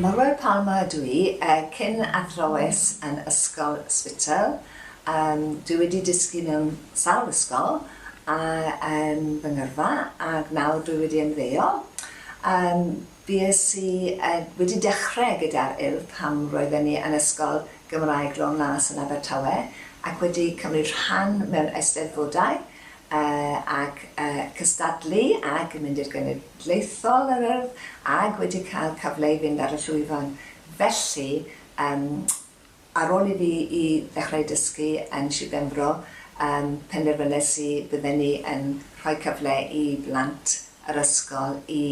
Morwel Palmer ydw i, cyn athrawes yn Ysgol Spittal. Dwi wedi dysgu mewn sawl ysgol yn fy ngyrfa ac nawr dwi wedi ymddeol. Bues i wedi dechrau gyda'r Urdd pan roedden ni yn Ysgol Gymraeg Lôn Las yn Abertawe ac wedi cymryd rhan mewn eisteddfodau. ac cystadlu ag mynd i'r genedlaethol yr Urdd ag wedi cael cyfle i fynd ar y llwyfan felly yym ar ôl i fi i ddechrau dysgu yn Shir Benfro yym penderfynes i bydden ni yn rhoi cyfle i blant yr ysgol i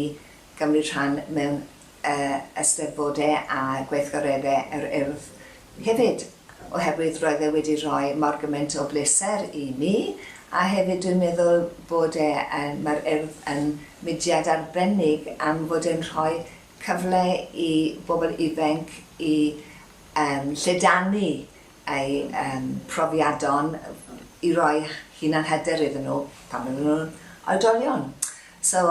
gymryd rhan mewn y Eisteddfod e a gweithgaredde yr Urdd hefyd, oherwydd roedd e wedi rhoi mor gymaint o bleser i mi, a hefyd dwi'n meddwl bod e yn, mae'r Urdd yn mudiad arbennig am fod e'n rhoi cyfle i bobl ifainc i yym lledaenu eu profiadon i roi hunanhyder iddyn nhw pan maen nhw'n oedolion. So,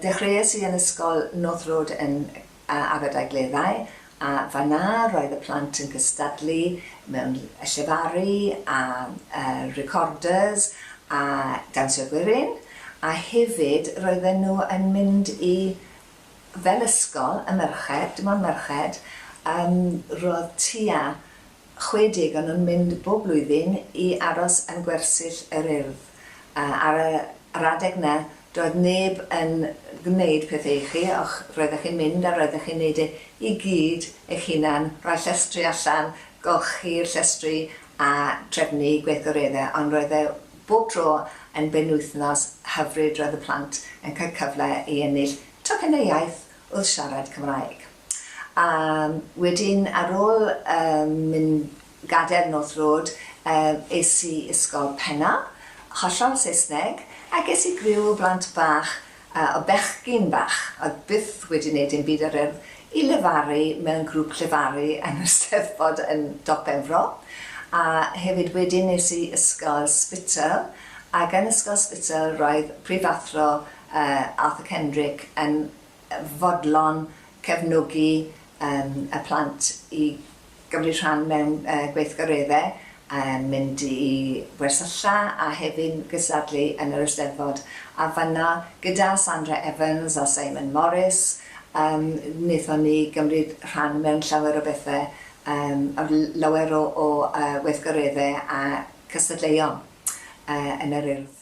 dechreuais i yn Ysgol North Road yn Aberdaugleddau a fan'na roedd y plant yn cystadlu mewn llefaru a recorders a dawnsio gwerin a hefyd roedden nhw yn mynd i fel ysgol, y merched, dim ond merched, yym roedd tua 60 o nhw'n mynd bob blwyddyn i aros yn gwersyll yr Urdd. Ar yr adeg 'na, doedd neb yn gwneud pethe i chi, o'ch, roeddech chi'n mynd a roeddech chi'n neud e i gyd eich hunan, rhoi llestri allan, golchi'r llestri a trefnu gweithgaredde, ond roedd e Bob tro yn benwythnos hyfryd roedd y plant yn cael cyfle i ennill tocynnau iaith wrth siarad Cymraeg. A wedyn ar ôl mynd gadael North Road es i Ysgol Penna, hollol Saesneg, a ges i griw o blant bach A o bechgyn bach oedd byth wedi wneud dim byd o'r urdd, i lefaru mewn grŵp llefaru yn yr Steddfod yn Dop Benfro, a hefyd wedyn nes i Ysgol Spittal, ac yn Ysgol Spittal roedd Prifathro Arthur Kendrick yn fodlon cefnogi y plant i gymryd rhan mewn gweithgareddau, mynd i wersylla a hefyd gystadlu yn yr Eisteddfod. A fan'na gyda Sandra Evans a Simon Morris wnaethon ni gymryd rhan mewn llawer o bethau, lawer o weithgareddau a cystadleuon yn yr Urdd.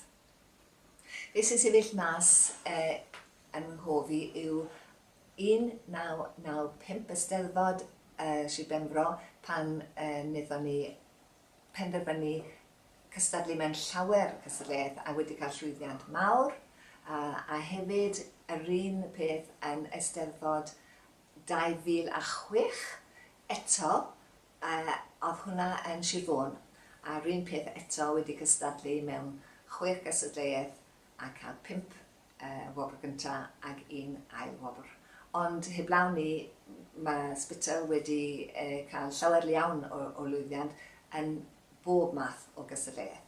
Be sy'n sefyll mas ym mhob un yw 1995 Eisteddfod Sir Benfro pan wnaethon ni penderfynu cystadlu mewn llawer cystadleuaeth a wedi cael llwyddiant mawr a hefyd yr un peth yn Eisteddfod 2006 eto oedd hwnna yn Sir Fôn a'r un peth eto wedi cystadlu mewn chwech gystadleuaeth a cael pump wobr gyntaf ag un ail wobr. Ond heblaw 'ny, mae Spittal wedi cael llawer iawn o lwyddiant yn bob math o gystadleuaeth.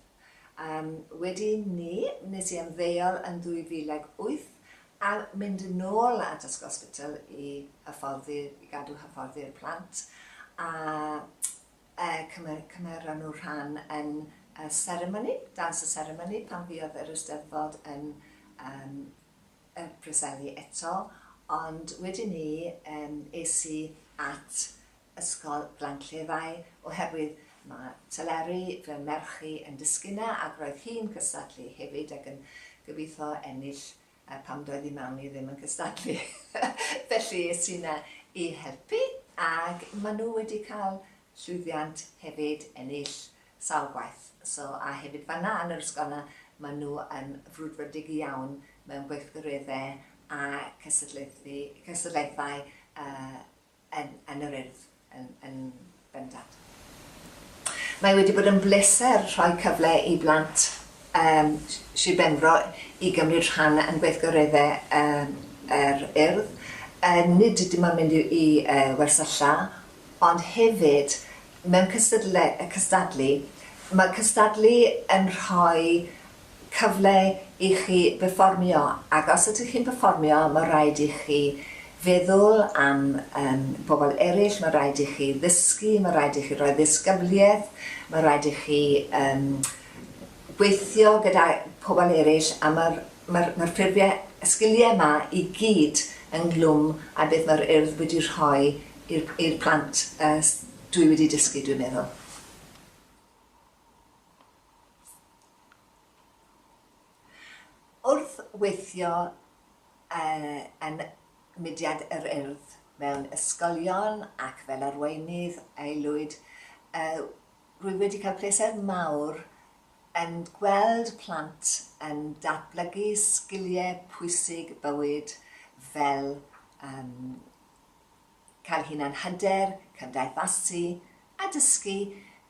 Wedi 'ny, wnes i ymddeol yn 2008 a mynd yn ôl at Ysgol Spittal i hyfforddi, i gadw hyfforddi'r plant a Cymeron nhw rhan yn y seremoni, dawns y seremoni, pan fuodd yr Eisteddfod yn y Preseli eto, ond wedyn 'ny es i at Ysgol Glan Cleddau oherwydd mae Teleri, fy merch i, yn dysgu 'na ac roedd hi'n cystadlu hefyd ac yn gobeithio ennill A pam doedd ei mam hi ddim yn cystadlu? Felly es i 'na i helpu ac maen nhw wedi cael llwyddiant hefyd, ennill sawl gwaith. So, a hefyd fan'na yn yr ysgol 'na maen nhw yn frwdfrydig iawn mewn gweithgareddau a cystadlaethau yn yn yr Urdd yn yn bendant. Mae wedi bod yn bleser rhoi cyfle i blant yym Sir Benfro i gymryd rhan yn gweithgaredde yn yr Urdd, yy nid dim ond mynd i yy wersylla ond hefyd mewn cystadle- yy cystadlu. Mae cystadlu yn rhoi cyfle i chi berfformio ac os ydych chi'n perfformio mae rhaid i chi feddwl am um, bobl eraill, mae rhaid i chi ddysgu, mae rhaid i chi roi ddisgybliaeth, mae rhaid i chi um, gweithio gyda pobl eraill a mae'r mae mae ffurfiau, y sgiliau yma i gyd ynglwm a beth mae'r urdd wedi rhoi i'r plant uh, dwi wedi dysgu dwi'n meddwl. Wrth weithio yn Mudiad yr Urdd mewn ysgolion ac fel arweinydd aelwyd, rwy wedi cael pleser mawr yn gweld plant yn datblygu sgiliau pwysig bywyd fel cael hunanhyder, cymdeithasu a dysgu